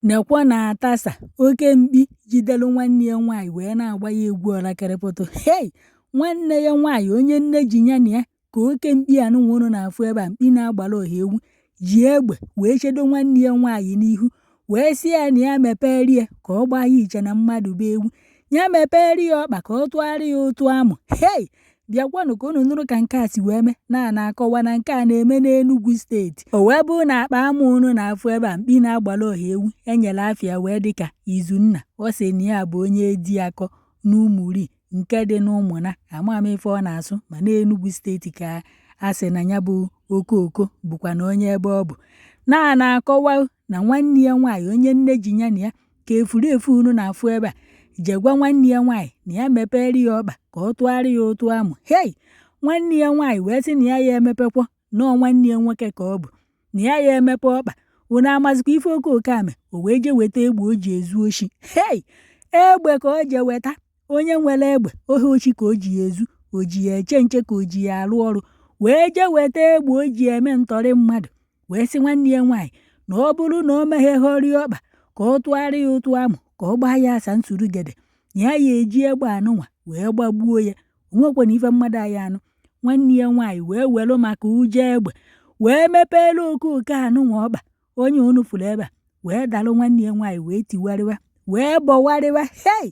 Nekwa na atasa oke mkpi jidelu nwanne ya nwaanyị wee na-agba ya egwu ọlakịrịpụtụ hei nwanne ya nwaanyị onye nne ji ya na ya ka oke mkpi anụnwa unu na-afụ ebe a mkpi na-agbara oha ewu ji egbe wee chedo nwanne ya nwaanyị n'ihu wee sị ya na ya mepere ya ka ọ gbaa ya iche na mmadụ bụ ewu ya mepere ya ọkpa ka ọ tụgharị ya ụtụ amụ hei bịakwanụ ka unu nụrụ ka nke a si wee mee na a na-akọwa na nke a na-eme n'Enugwu steeti o wee bụrụ na akpa amụ unu na-afụ ebe a mkpi na-agbara ọha ewu enyere afa ya wee dịka Izunna ọ sị na ya bụ onye Ejiakọ n'Umuri nke dị n'Ụmụna ama m ife ọ na-asụ ma n'Enugwu steeti ka a sị na ya bụ okoke bụkwa na onye ebe ọ bụ na a na-akọwa na nwanne ya nwaanyị onye nne ji ya na ya ka efurefu unu na-afụ ebe a je gwa nwanne ya nwaanyị na ya mepere ya ọkpa ka ọ tụgharị ya ụtụ amụ hei nwanne ya nwaanyị wee sị na ya ya emepekwa nọọ nwanne ya nwoke ka ọ bụ na ya ya emepe ọkpa unu amazikwa ife okoke a mee o wee je weta egbe o ji ezu oshi hei egbe ka o je weta onye nwere egbe ọ bụ oshi ka o ji ya ezu o ji ya eche nche ka o ji ya arụ ọrụ wee je weta egbe o ji eme ntọrị mmadụ wee sị nwanne ya nwaanyị na ọ bụrụ na o meghehọrọ ya ọkpa ka ọ tụgharị ya ụtụ amụ ka ọ gbaa ya asa nsurugede na ya ya eji egbe anụnwa wee gbagbuo ya onwekwanụ ife mmadụ ayị anụ nwanne ya nwaanyị wee welu maka ụjọ egbe wee mepeere okoke anụnwa ọkpa onye unu fụrụ ebe a wee dalụ nwanne ya nwaanyị wee tiwarịwa wee bọwarịwa hei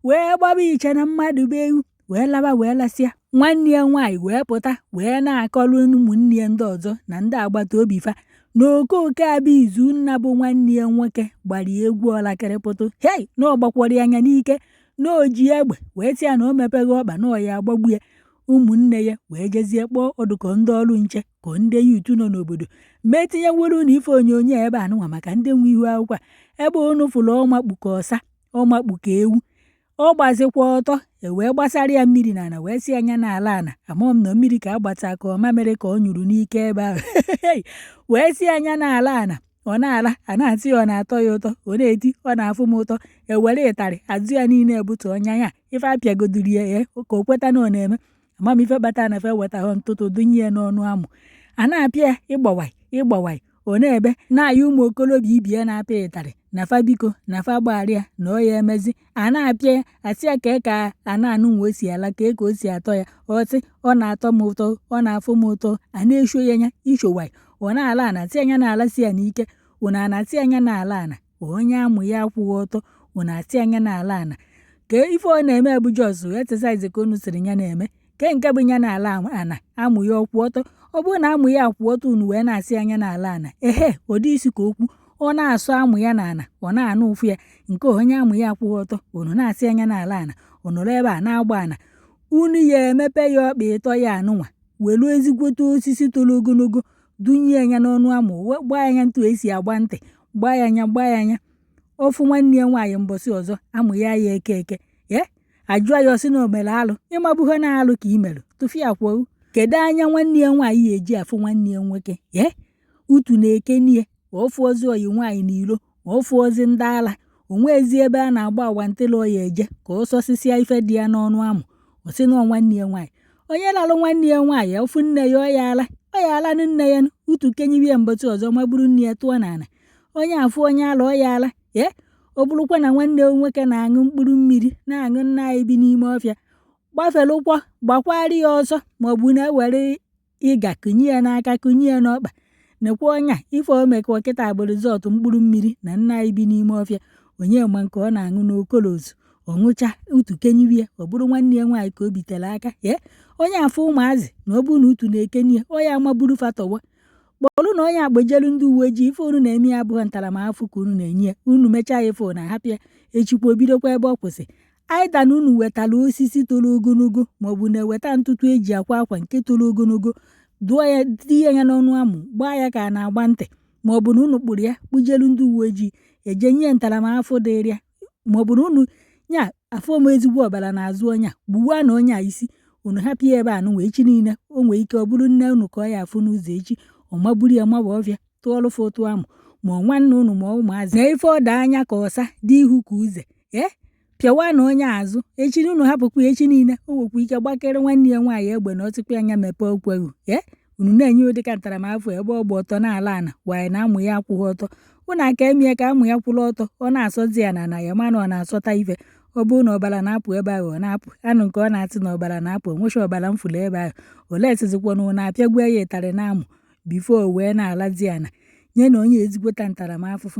wee gbaba iche na mmadụ bụ ewu wee laba wee lasịa nwanne ya nwaanyị wee pụta wee na-akọrọ ụmụnne ya ndị ọzọ na ndị agbata obi fa na okoke a bụ Izunna bụ nwanne ya nwoke gbara ya egwu ọlakịrịpụtụ hei na ọ gbakwọrọ ya ya n'ike na o ji egbe wee sị ya na o mepeghị ọkpa na ọ ya agbagbu ya ụmụnne ya wee jezie kpọọ ọdụkọ ndị ọrụ nche ka ndị youth nọ n'obodo ma etinyewere unu ife onyonyo ebe a nụnwa maka ndị nwe ihu akwụkwọ a ebe unu fụrụ ọ makpu ka ọsa ọ makpu ka ewu ọ gbazikwa ọtọ ewee gbasara ya mmiri n'ala wee sị ya na-ala ana amaghị m na mmiri ka a gbata ka ọ mamịrị ka ọ nyụrụ n'ike ebe ahụ wee sị ya na-ala ana ọ na-ala a na-atị ya ọ na-atọ ya ụtọ ọ na-eti ọ na-afụ m ụtọ ewere ịtarị azụ ya niile ebute ọnya ya ife apịagoduru ya ya ka o kweta na ọ na-eme ama m ife kpatara na fe wetahụ ntụtụ dunye ya n'ọnụ amụ a na-apịa ya ịgbawaị ịgbawaị ọ na-ebe na-ayọ ụmụ okorobịa ibe ya na-apịa ịtarị na fa biko na fa gbaghara ya na ọ ya emezi a na-apịa ya asị ya kee ka ana anụnwa o si ala kee ka o si atọ ya o tie ọ na-atọ m ụtọ ọ na-afụ m ụtọ a na-esho ya anya ishowaị ọ na-ala a na-atị ya na-ala si ya n'ike ụna a na-atị ya na-ala ana onye amụ ya akwụghị ọtọ unu asị ya na-ala ana ka ife ọ na-eme bụ just exercise ka unu sịrị ya na-eme ke nke bụ ya na-ala ana amụ ya akwụ ọtọ ọ bụrụ na amụ ya akwụ ọtọ unu wee na-asị ya na-ala ana ehe ụdị isi ka okwu ọ na-asụ amụ ya n'ala ọ na-anụ ụfụ ya nke onye amụ ya akwụghị ọtọ unu na-asị ya na-ala ana unu ree ebe a na-agba ana unu ya emepe ya ọkpa etu a nụnwa welu ezigbote osisi toro ogologo dunye ya n'ọnụ amụ o wee gbaa ya anya etu e si agba ntị gbaa ya anya gbaa ya anya ọ fụ nwanne ya nwaanyị mbọsị ọzọ amụ ya ya eke eke ye ajụọ ya ọ sị na o mere alụ ị mabughị na alụ ka i mere tụfịakwa kedu anya nwanne ya nwaanyị ya eji afụ nwanne ya nwoke ye utu na-ekenie ọ fụ ọzọ oyi nwaanyị n'ilo ma ọ fụzi ndị ala o nwezi ebe a na-agba agwa ntịla ọ ya eje ka ọ sọsịsịa ife dị ya n'ọnụ amụ ọ sị na nwanne ya nwaanyị onye lalụ nwanne ya nwaanyị ọ fụ nne ya ọ ya ala ọ ya ala na nne ya utu kenibe mbọchị ọzọ magburu nne ya tụọ n'ala onye afụ onye ala ọ ya ala ee ọ bụrụkwa na nwanne ya nwoke na-aṅụ mkpụrụ mmiri na-aṅụ nna anyị bi n'ime ọfịa gbaferekwa gbakwara ya ọsọ maọbụ na-ewere ịga kụnye ya n'aka kụnye ya n'ọkpa nekwanụ nya ife o mekwa kịta bụ result mkpụrụ mmiri na nna anyị bi n'ime ọfịa onye ma nke ọ na-aṅụ na colos ọ ṅụcha utu keniwe ya ọ bụrụ nwanne ya nwaanyị ka o bitere aka ye ọ ya afụ ụmụazị na ọ bụrụ na utu na-ekeni ya onye amaburu fatọwa kpọrụnụ nya kpọjelu ndị uwe ojii ife unu na-eme ya abụghị ntaramahụhụ ka unu na-enye ya unu mechaa ya ife na ahapụ ya echikwa o bidokwa ebe ọ kwụsị either na unu wetara osisi toro ogologo maọbụ na-eweta ntụtụ eji akwa akwa nke toro ogologo dụọ ya tinye ya n'ọnụ amụ gbaa ya ka a na-agba ntị maọbụ na unu kpụrụ ya kpụjelu ndị uwe ojii eje nye ntaramahụhụ dịrị ya maọbụ na unu nya afọ m ezigbo ọbara n'azụ ọnya gbuwanụ nya isi unu hapụ ya ebe a nụnwa echi niile o nwee ike ọ bụrụ nne unu ka ọ ya afụ n'ụzọ echi ọ magburu ya mawa ọfịa tụọlụfụ ụtụ amụ ma ọ nwanne unu ma ụmụazị na ife ọ dị anya ka ọsa dị ihu ka uze ee pịawanụ nya azụ echi na unu hapụkwa ya echi niile o nwekwa ike gbakere nwanne ya nwaanyị egbe na ọtụkwa anya mepee ụkwụ gị ee unu na-enye ụdị ka ntaramahụhụ ebe ọ gba ọtọ na-ala ana waanyị na amụ ya akwụghị ọtọ unu aka emee ka amụ ya kwụrụ ọtọ ọ na-asụzi ya n'ana ya mana ọ na-asụta ife ọ bụrụ na ọbara na-apụ ebe ahụ ọ na-apụ anụ nke ọ na-atụ na ọbara na-apụ o nweghị ọbara m fụlụ ebe ahụ olee sizikwa na unu apịagbuo ya ụtarị n'amụ before o wee na-alazi ana nyenụ nya ezigbote ntaramahụhụ